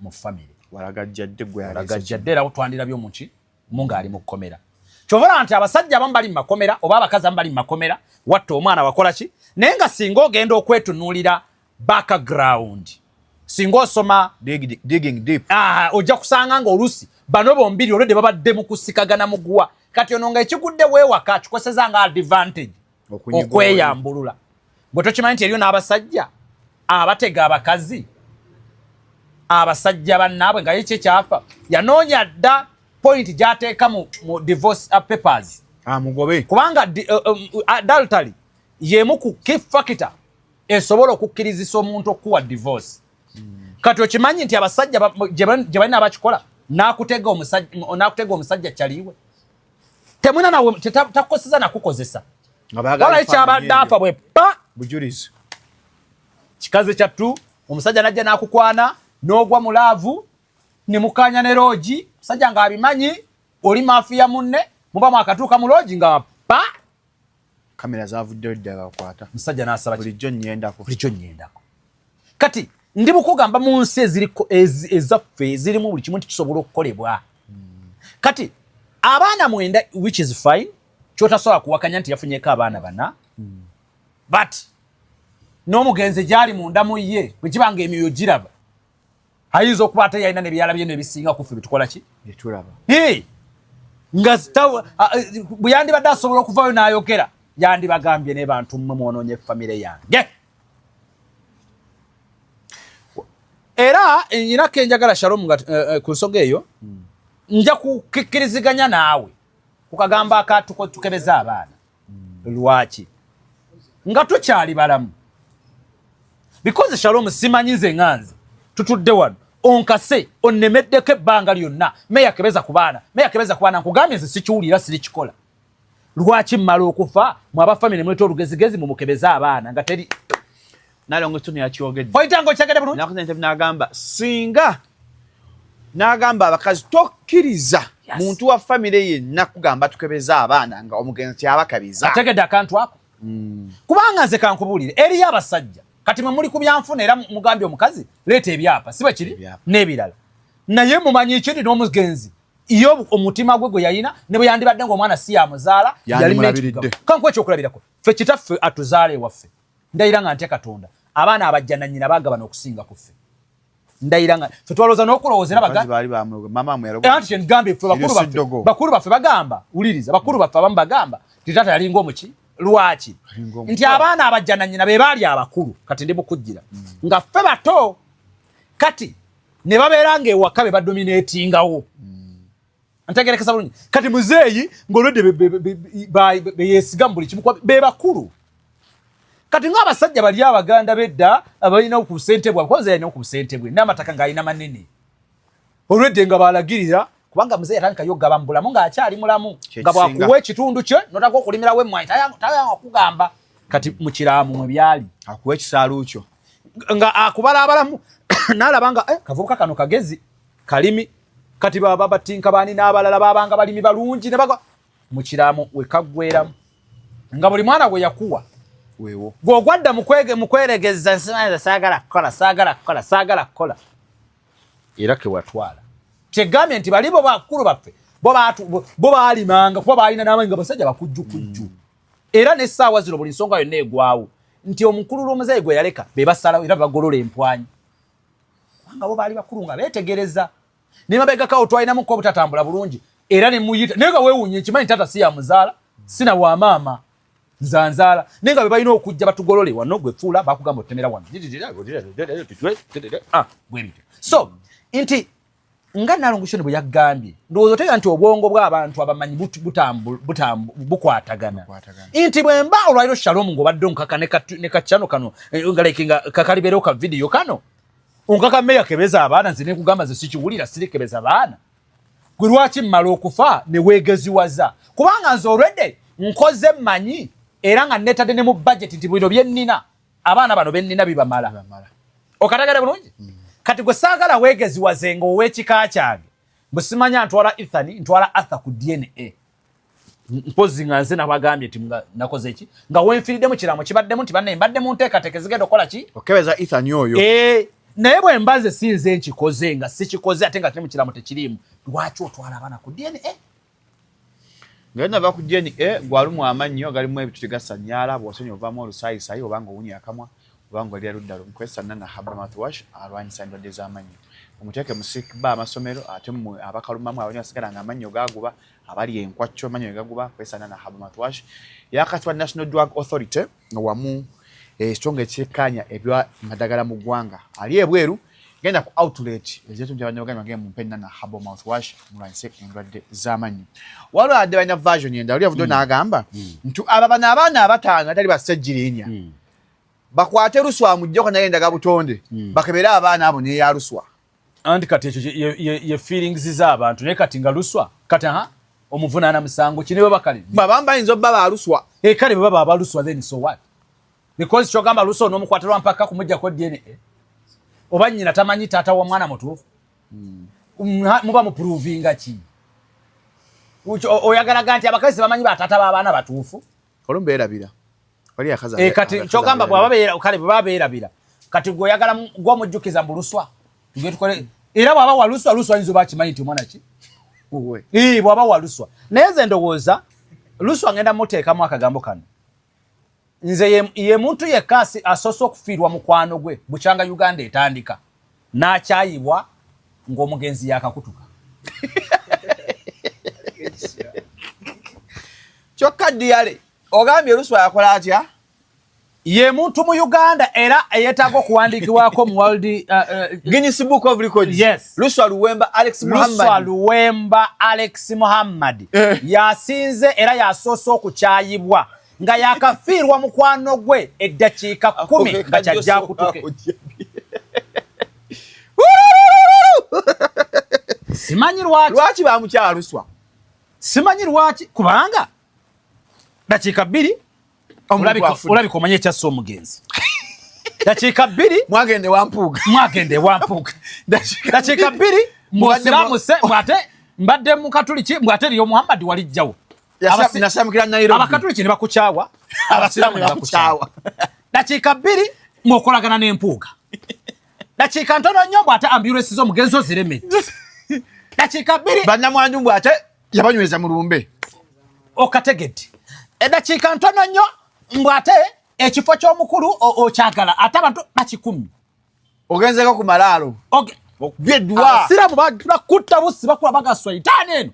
mu famire walagajjadde gwalagajjadde era twandirabyo muki mu ng'ali mu kkomera kyovala nti abasajja abamu bali mu makomera oba abakazi abamu bali mu makomera watta omwana wakola ki naye nga singa ogenda okwetunuulira background singa osoma ah, ojja kusanga nga olusi bano bombiri olwedde babadde mu kusikagana muguwa kati ono nga ekigudde weewaka kikozeseza nga advantage okweyambulula gwe tokimanyi nti eriyo n'abasajja abatega abakazi abasajja bannaabwe nga yekyo ekyafa yanoonya dda pointi gyateeka mu divorce uh, papers amugobe ah, kubanga uh, um, uh, adultary yemu ku key factor esobola okukkirizisa omuntu okukuwa divorce hmm. kati okimanyi nti abasajja gye balina abakikola n'akutega omusajja kyaliiwe temwina nawe takukoseza nakukozesa walayi kyabadde afa bwe pa bujulizi kikazi kyattu omusajja najja nakukwana nogwa mu laavu ne mukanya ne loogi omusajja ng'abimanyi oli maafiya munne muba mwakatuuka mu loogi nga pa kamera zavuddeyo ddala bakwata musajja n'asaba bulijjo nnyendako bulijjo nnyendako kati ndi mukugamba mu nsi eziriko ezaffe ezirimu buli kimu nti kisobola okukolebwa hmm. kati abaana mwenda which is fine kyotasobola kuwakanya nti yafunyeko abaana bana hmm. but n'omugenzi gyali munda mu ye bwe kiba nga emyoyo giraba ayinza okuba ate yalina nebyalabye no ebisinga kuffe byetukola ki byetulaba nga bwe yandibadde asobola okuvayo n'ayogera yandibagambye ne bantu mmwe mwonoonye famire yange era nyina kenjagala shalom nga eh, eh, ku nsoga eyo hmm. nja kukikkiriziganya naawe ku kagambo akatuko tukebeza abaana lwaki nga tukyali balamu because shalom simanyi nze nga nze tutudde wano onkase onnemeddeko ebbanga lyonna meya kebeza ku baana meya kebeza ku baana nkugambye nze sikiwulira sirikikola lwaki mmala okufa mwabafamire muleta olugezigezi mumukebeze abaana nga teri nalongo kino yakyogedde oyitango kyagenda bulungi nakuza interview nagamba singa nagamba abakazi tokkiriza yes. muntu wa famire yenna kugamba tukebeza abaana nga omugenzi kyabakabiza ategedde akantu ako mm. kubanga nze kankubuulire eriyo abasajja kati mwe muli ku byanfuna era mugambye omukazi leeta ebyapa si bwekiri n'ebirala naye mumanyi ekindi n'omugenzi iyo omutima gwe gwe yayina ne bwe yandibadde ng'omwana si yamuzaala yali kankuwa ekyokulabirako ffe kitaffe atuzaala ewaffe ndayira nga ntya katonda abaana abajja nanyina bagabana okusinga kuffe ndayira nga fe twalowooza n'okulowooza era bagambye fe bakulu baffe bagamba wuliriza bakulu baffe abamu bagamba nti taata yalinga omuki lwaki nti abaana abajja nanyina be baali abakulu kati ndi mukujjira mm. nga ffe bato kati ne babeera nga ewaka be badominatingawo mm. ntegerekesa bulungi kati muzeeyi ng'olwedde beyesiga mu buli kimu be bakulu kati ng'abasajja bali abaganda bedda abalina ku busente bwabwe kuba yalina ku busente bwe n'amataka ng'alina manene olwedde nga balagirira kubanga muzeeyi atandikayo okugaba mu bulamu ng'akyali mulamu nga bwakuwa ekitundu kye notaka okulimirawo emmwanyi tayanga okugamba kati mu kiraamu mwe byali akuwa ekisaalu kyo nga akubala abalamu n'alaba nga eh, kavubuka kano kagezi kalimi kati baba batinka bani n'abalala babanga balimi balungi ne bagwa mu kiramu wekaggweramu nga buli mwana gwe yakuwa wewo gwogwadda mukwege mukweregeza nsimanyiza saagala kukola saagala kukola saagala kukola era kewatwala kyegambye nti balibo bakulu baffe bo baalimanga kuba baalina n'amanyi nga basajja bakujjukujju mm. era n'essaawa zino buli nsonga yonna egwawo nti omukulu lw'omuzeeyi gwe yaleka be basalawo era bagolola empwanyi kubanga bo baali bakulu nga beetegereza ne mabegakawo twalinamuko obutatambula bulungi era ne muyita naye nga weewunya ekimanyi taata si ya muzaala sina wa maama nzanzaala naye nga be balina okujja batugolole wano gwe fuula bakugamba otemera wano ah, so nti nga nalongo shoni bwe yagambye ndowooza otegeera nti obwongo bw'abantu abamanyi bukwatagana nti bwe mba olwaliro shalom ng'obadde onkaka ne kacano kano eh, nga like nga kakalibeerewo ka vidiyo kano onkaka meya kebeza abaana nze nekugamba ze sikiwulira sirikebeza baana gwe lwaki mmala okufa ne weegeziwaza kubanga nze olwedde nkoze mmanyi era nga neetadde ne mu bajeti nti bino bye nnina abaana bano bennina bibamala okatagala bulungi mm. kati gwe saagala weegeziwaze nga ow'ekika kyange bwe simanya ntwala ethani ntwala arthur ku dna mpozi nga nze nabagambye ti nakoze eki nga wenfiriddemu kiramu kibaddemu nti banne mbadde mu nteekateeka ezigenda okukola ki okebeza ethani oyo eh, naye bwe mbaze sinze nkikoze nga sikikoze ate nga kiri mu kiramu tekiriimu lwaki otwala abaana ku dna nga yona va ku jeni e gwalumu amannyo agalimu ebituli gasanyaala bwosonyi ovaamu olusaayisayi obanga owunya akamwa obanga olira ludda lumu kwesa nana haba mouthwash alwanyisa endwadde z'amannyo omuteeke mu sick ba amasomero ate mmwe abakalumamu abali basigala nga amannyo gaaguba abali enkwacco amannyo ne gaguba kwesa nana haba mouthwash yakatibwa national drug authority wamu ekitongole ekikkaanya ebya madagala mu ggwanga ali ebweru genda ku outlet ezetu nti abanyabaganda bagenda mumpe enana habo mouth wash mulwanyise endwadde z'amannyo waliwo adde balina version endala oli avuddeyo mm. n'agamba mm. nti aba bano abaana abataano atali bassajjirinya mm. bakwate luswa mujjeko naye endaga butonde bakebere abaana abo neyaluswa anti kati ekyo ye feelings z'abantu naye kati nga luswa kati aha omuvunaana musango ki nibo bakale babamba ayinza obba baluswa e eh, kale bwe baba abaluswa then so what because kyogamba luswa onomukwata lwa mpaka kumuggyako dna oba nnyina tamanyi taata wa mwana mutuufu hmm. muba mupuruvinga ki oyagalaga nti abakazi bamanyi bataata b'abaana batuufu olumu beerabira eh, kati kyogamba bwabakale bwebaba beerabira kati gwe oyagala gwomujjukiza mbu luswa tugetukole era bwaba waluswa luswa yinza oba akimanyi nti omwana ki eh, bwaba waluswa naye nze ndowooza luswa ngenda muteekamu akagambo kano nze ye muntu yekka asoose okufiirwa mukwano gwe bukyanga uganda etandika n'akyayibwa ng'omugenzi yaakakutuka kyokka diyale ogambye oluswa yakola atya ye muntu mu uganda era eyetaaga okuwandiikibwako mu world uh, uh, guinness book of records yes. luswa luwemba alex muhammadluswa luwemba alex muhammad eh. yasinze era yasoose okukyayibwa nga yakafiirwa mukwano gwe eddakiika kumi nga kyajja akutuke simanyi lwaki lwaki bamukyaluswa simanyi lwaki kubanga dakiika bbiri olabika omanye ekyassa omugenzi dakiika bbiri mwagende wampuuga mwagende wampuuga dakiika bbiri mbwasiramuse mbwate mbadde mukatuliki mbwate eriyo muhammadi walijjawo abakatuliki ne bakukyawa abasiraamu ne bakukyawa dakiika bbiri mwokolagana n'empuuga dakiika ntono nnyo bw'ate ambulensi z'omugenzi ozireme dakiika bbiri bannamwanju bw'ate yabanyweza mu lumbe okategedde edakiika eh, ntono nnyo mbw'ate ekifo ky'omukulu okyagala ate abantu bakikumi Ogenzeko ku malaalo. Okay. Okubye dwa. Abasiramu bagula kutta busi bakuba bagaswa itaani eno.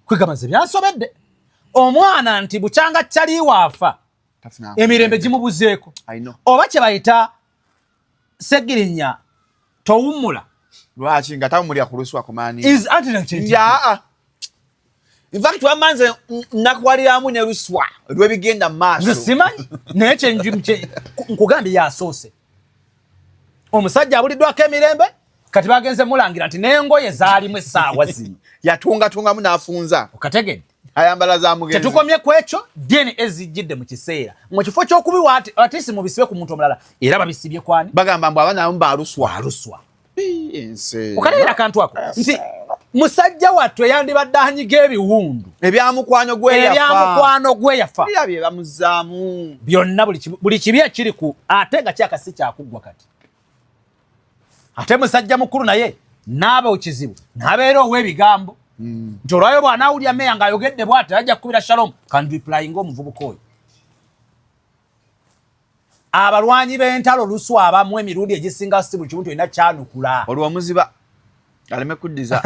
Kwegamba nze byansobedde. Omwana nti bukyanga kyali waafa. Emirembe gimubuzeeko. Oba kye bayita Segirinya towummula. Lwaki nga tawummulira ku lusuwa kumaani. Is anti na kyenkyenkye. Yaa. In fact wamma nze nakwaliramu ne luswa lwebigenda mu maaso nze simanyi naye kyenjimkye nkugambye yasoose omusajja abuliddwako emirembe kati bagenze mulangira nti n'engoye zaalimu essaawa zino yatungatungamu n'afunza okategedde ayambala za mugenzi tetukomye ku ekyo dna ezijjidde mu kiseera mu kifo ky'okubiwa atisi mubisibe ku muntu omulala era babisibye kwani bagamba mbu abana abamu baluswa aluswa okalabira akantu ako nti musajja wattu eyandibadde anyiga ebiwundu ebyamukwano gweyafaebyamukwano gweyafa byebamuzaamu byonna buli kibi ekiri ku ate nga kyakasi kyakuggwa kati ate musajja mukulu naye naaba okizibu nabeera owebigambo hmm. nti olwayo bwanawulya meya ngaayogedde bwati ajja kukubira shalom kanriplyinga omuvubuka oyo abalwanyi b'entalo luswa abamu emirundi egisinga si buli kimu tolina kyanukula olwo omuziba aleme kuddiza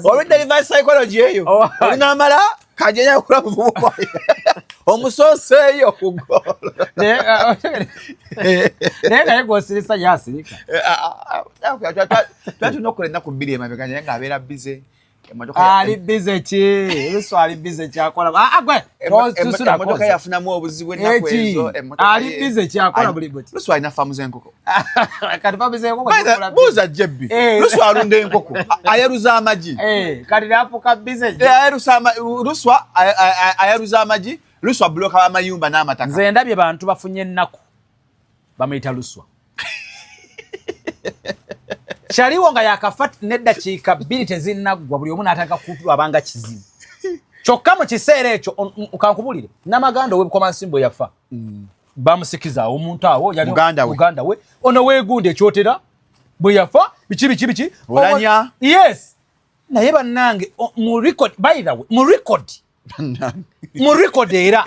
olwedda reverse psychology eyo oh, olinamala kajeyakula muvubuka omusooseeyo kugolnaye naye gwosirisa yasirika twatuna okukola ennaku bbiri emabega naye ng'abeera bize ali bize ki ebisu ali bize kyakola agwe ah, ah, emotoka yafunamu obuzibu ennaku ezo ali bize kyakola buli buti lusu alina famu z'enkoko kati famu z'enkoko buuza jebbi eh. lusu alunda enkoko ayaruza amagi eh, kati nafuka bize eh, ayarusa lusu ayaruza amagi lusu abuloka amayumba n'amataka nze ndabye bantu bafunye ennaku bamuyita luswa kyaliwo nga yakafa neddakiika bbiri tezinnaggwa buli omu n'atandika kulabanga kizibu kyokka mu kiseera ekyo kankubulire namaganda owebukomansimbo yafa mm. bamusikiza awo omuntu awo yalimuganda we ono wegunda ekyotera bwe yafa biki biki biki olanya yes naye bannange mu record by the way mu record mu record era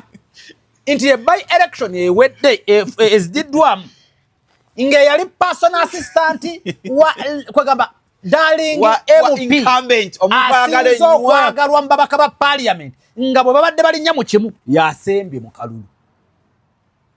nti ebayi election ewedde e, e, ezididdwamu ng'eyali personal assistant wa kwegamba darling mupaasinza okwagalwa mu babaka ba parliament nga bwe babadde balinnya mu kimu yasembye mu kalulu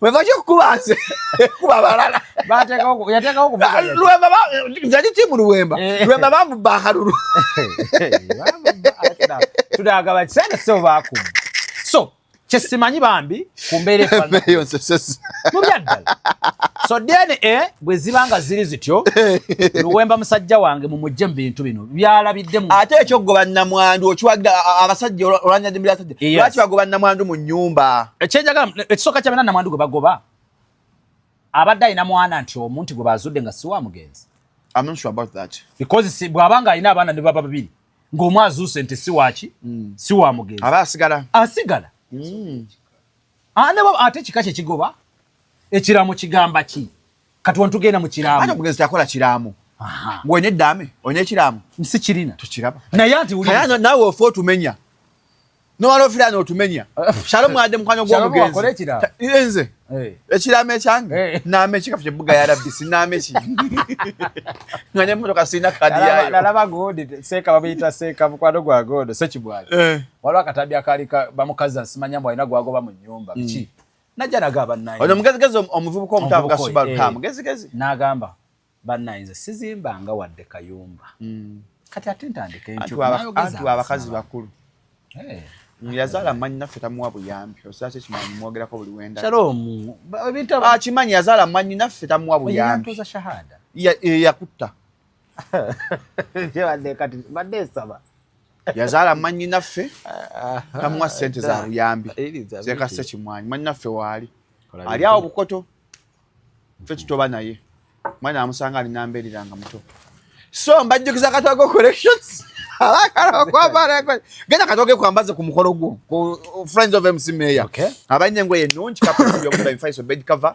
webaki okukubanze kuba balala yali timu luwemba eh. luwemba bamubba akalulu tudagaba kisente so bakuba so kyesimanyi bambi kumbeera efanamubyadala so dna eh, bwe ziba nga ziri zityo luwemba musajja wange mumujje mu bintu bino byalabidde ate ekyogoba namwandu okiwagira abasajja olwanyajimira lwaki bagoba namwandu mu nyumba ekisooka eh, kyabena namwandu gwe bagoba abadde alina mwana nti omuntu gwe bazudde nga si wa mugenzi bw'aba nga alina abaana ne baba babiri ng'omu azuuse nti si waki hmm. si wa mugenzi aba asigala asigala hmm. ah, ate kika kye kigoba ekiramu kigamba ki kati wano tugenda mu kiraamo ate omugenzi takola kiraamo gwe neddaame olina ekiraamo nsi kirina tukiraba naye ati wulira naawe ofa otumenya nowala ofira notumenya shalo mwade mukwano gwomugenzi nze eh. ekirama ekyange eh. naama ekikafu kyebuga ya rabbi sinaama eki nga nemotoka sirina kadi yayonalaba godi seeka bamuyita seeka mukwano gwa godo sekibwali eh. waliwo akatabi akaali bamukazi asimanya mbu alina gwagoba mu nyumba mm. ki najja naga bannange ono mugezigezi omuvubuka omuto avuga subaru ka eh, mugezigezi n'agamba bannange nze sizimbanga wadde kayumba hmm. kati ate ntandika entyuanti abakazi bakulu eh. yazaala manyi naffe tamuwa buyambi osala kyekimanyi mwogerako buli wendakimanyi ah, yazaala manyi naffe tamuwa buyambi eh, yakutta yazaala manyinaffe namuwa sente za buyambi zekase kimwanyi manyinaffe waali ali awo bukoto fe tutoba naye mwana amusanga ali nambeerera nga muto so mbajjukiza katogo collections genda katoge kwambaze ku mukolo gwo ku friends of mc mayor abalina engoye ennungi kapbed cover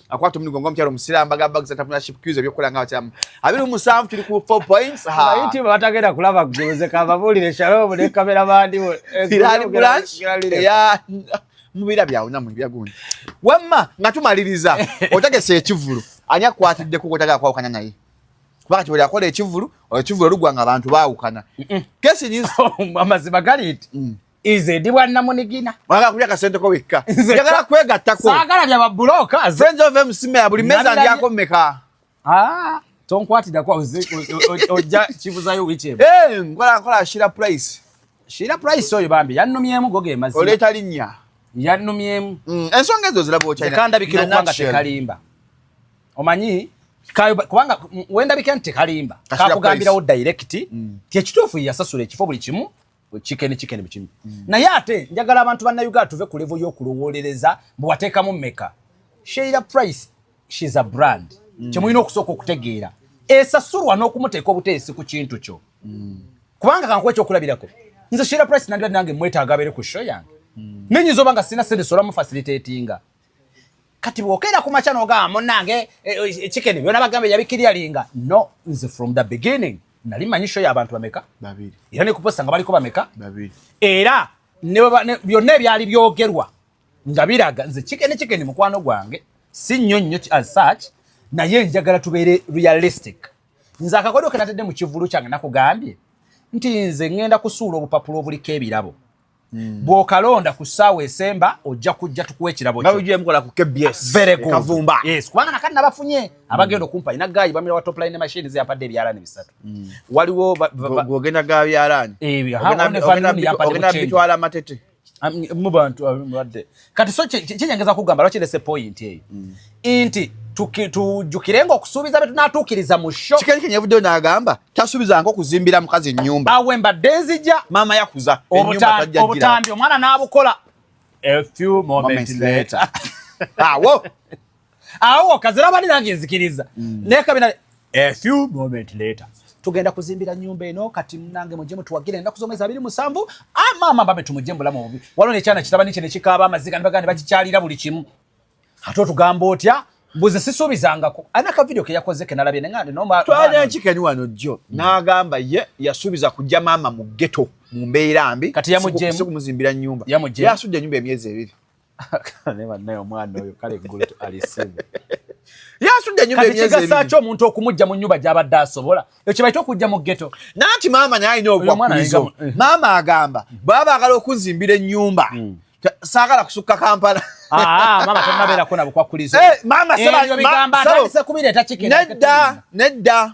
akwata omuligo nga omukyalo omusiraamu bagamba bagisa entrepreneurship cues ebyokukola nga abakyaamu abiri musanvu tuli ku four points haayitube batagenda kulaba gguze kababuulire shalom ne kamera bandi irani branch eya mubira byawunamu ebya gundi wamma nga tumaliriza otegese ekivulu ani akwatiddeko kotagala kwawukana naye kubanga kibuli akola ekivulu ekivulu olugwa nga abantu baawukana kesi nyinzi amazima gali nti mm. Ize ndi bwa namunigina. Mwagala kulya kasente ko wekka. Njagala kwegattako. Saagala bya babuloka. Friends of MCM ya buli meza ndi ako meka. Ah, tonkwatida kwa uze ojja kibuzayo wiche. Eh, ngola ngola shira price. Shira price oyo bambi yanumyemu goge mazina. Oleta linya. Yanumyemu. Mm, ensonga ezo zilabo ochina. Tekanda bikiro kwanga tekalimba. Omanyi kayo kubanga wenda bikante kalimba. Kakugambira wo direct. Mm. Tie kitufu yasasule ekifo buli kimu. chicken chicken bikimu mm. naye ate njagala abantu banna Uganda tuve ku level y'okulowolereza mbu wateekamu mmeka Sheila Price she's a brand mm. kyemulina okusooka okutegeera esasulwa n'okumuteeka obuteesi ku kintu kyo mm. kubanga kankuwa ekyokulabirako nze Sheila Price nandibadde nange mwetaaga abeere ku show yange mm. nenyinza oba nga sirina sente sola mu facilitatinga kati bwokera ku makya nogamba munange e, e, e, chicken byona bagambe yabikiryalinga no nze from the beginning nali manyi show yabantu bameka babiri era nekuposta nga baliko bameka babiri era byonna ebyali byogerwa nga biraga nze chicken chicken mukwano gwange si nnyo nnyo as such naye njagala tubeere realistic nze akakodo kenatadde mu kivulu kyange nakugambye nti nze ngenda kusuula obupapula obuliko ebirabo Mm. bwokalonda ku ssaawa esemba ojja kujja tukuwa ekirabo kyokavumba kubanga nakati nabafunye mm. abagenda okumpa ina gayi bamira wa topline ne mashini zeyampadde ebyalaani bisatu mm. waliwo ogenda ga byalaani eh, ogenabitwala amatete mubantu abadde kati so kyenyengeza kugamba lwaki lese point eyo mm. nti tujjukirenga okusuubiza bye tunaatuukiriza mu sho kikenyikenyi evuddeyo n'agamba tasuubizanga okuzimbira mukazi ennyumba awe mbadde nzija maama yakuza obutambi omwana n'abukola a few moments later awo awo kazira bali nange nzikiriza mm. naye kabina a few moment later tugenda kuzimbira nyumba eno kati munange mujje mutuwagire ennaku z'omwezi abiri musanvu ah, maama babe tumujje mubulamu obubi waliwo nekyana kitabani kye nekikaaba amaziga ne baganda bakikyalira buli kimu ate otugamba otya mbuze sisuubizangako ani akavidiyo keyakoze kenalabye nenganenki keni wano jjo mm. n'agamba ye yasuubiza kujja maama mu geto mu mbeera mbi kati yamujjemu kumuzimbira nyumba yasudde nyumba emyezi ebiri yasuddenyumbaekigasaki omuntu okumujja mu nyumba gyabadde asobola ekyebaita okujja mu geto nanti maama naye alina obubakurizo eh. maama agamba baba bagala okunzimbira enyumba hmm. sagala kusukka kampala ah, ah, eh, nedda nedda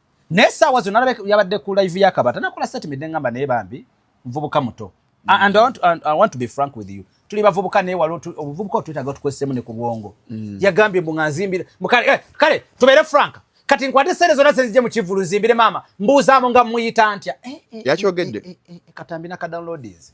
naye saawa zonna alabeka yabadde ku live ya kabata nakola statement engamba naye bambi nvubuka muto and I want, to, I want to be frank with you tuli bavubuka naye wali obuvubuka otwetaaga otukozesemu ne ku bwongo mm. yagambye mbu nga nzimbire eh, kale tubeere frank kati nkwate sente zonna senzije mu kivulu nzimbire maama mbuuzaamu nga muyita ntya eh, eh, yakyogedde katambi nakadownloadinzi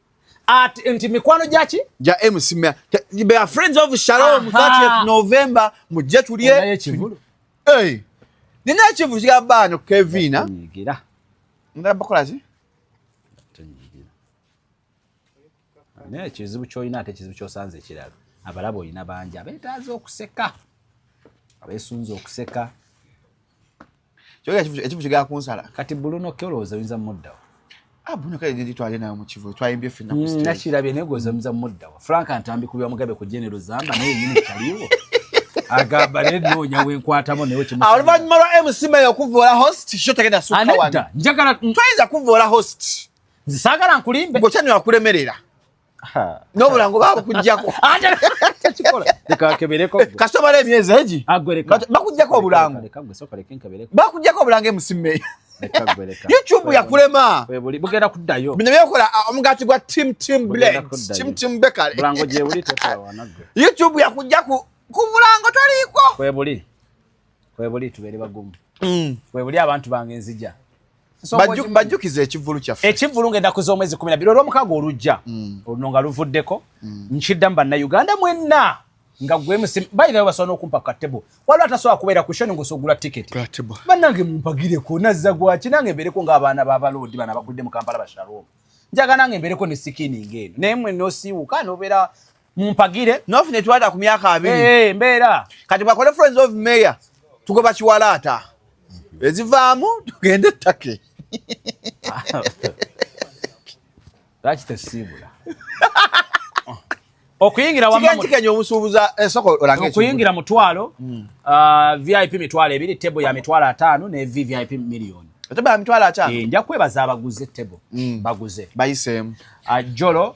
at nti mikwano gyaki gya MC Mea they are friends of Shalom 30th November mujje tulye naye kivulu hey nina ekivulu kya baano Kevin ah. nyigira ngala bakola zi tonyigira naye kizibu kyoyina ate kizibu kyosanze ekirala abalaba oyina bangi abetaaza okuseka abesunze okuseka kyoga ekivu kigala kunsala kati buluno kyolowooza oyinza muddawo ah, buno kale ndi twali nayo mukivu twayimbye ffe mm, nakirabye naye gwoza oyinza muddawo frank antambi kubya mugabe ku genero zamba naye nyini kyaliwo agamba naye noonya wenkwatamu naye oluvannyuma lwa mc mayo okuvoola host kyo tagenda sukawaneda njagala mm. twayinza kuvoola host nzisagala nkulimbe ngokyanywa akulemerera n'obulango babukugjako kasitoma n'emyezi egi bakugjako obulango bakugjako obulango emusimeyo youtube yakulema bugenda kuddayo bino byekola uh, omugaati gwa tim tim blends tim tim bekale bulango gyebuli youtube yakujja ku bulango toliko kwebuli kwebuli tubeere bagumu mm. kwebuli abantu bange nzija bajjukiza ekivulu kyaffe ekivulu ngenda kuza omwezi kumi nabiri olwomukago olujja mm. oluno nga luvuddeko mm. nkiddamu bannauganda mwenna nga gwemusi bayirayo basobola nokumpa katebo waliwo atasobola kubeera ku shoni ngosogula tiketi banange mumpagireko nazza gwaki nange mbeereko ngaabaana babaloodi bana bagudde mu kampala bashalom njaga nange mbeereko ne sikininga eno naye mwe nosiiwuka nobeera mumpagire nof netwalira ku myaka abiri eh, eh, mbeera kati bwakole friends of mayor tugoba kiwalaata ezivaamu tugende ettake lwaki tesiibula okuyingira wamukigenjikenya omusuubuza esoko eh, olange okuyingira mutwalo hmm. uh, vip mitwalo ebiri tebo ya mitwalo ataano ne vvip million tebo ya mitwalo ataano eh, nja kwebaza abaguze tebo hmm. baguze bayiseemu uh, jolo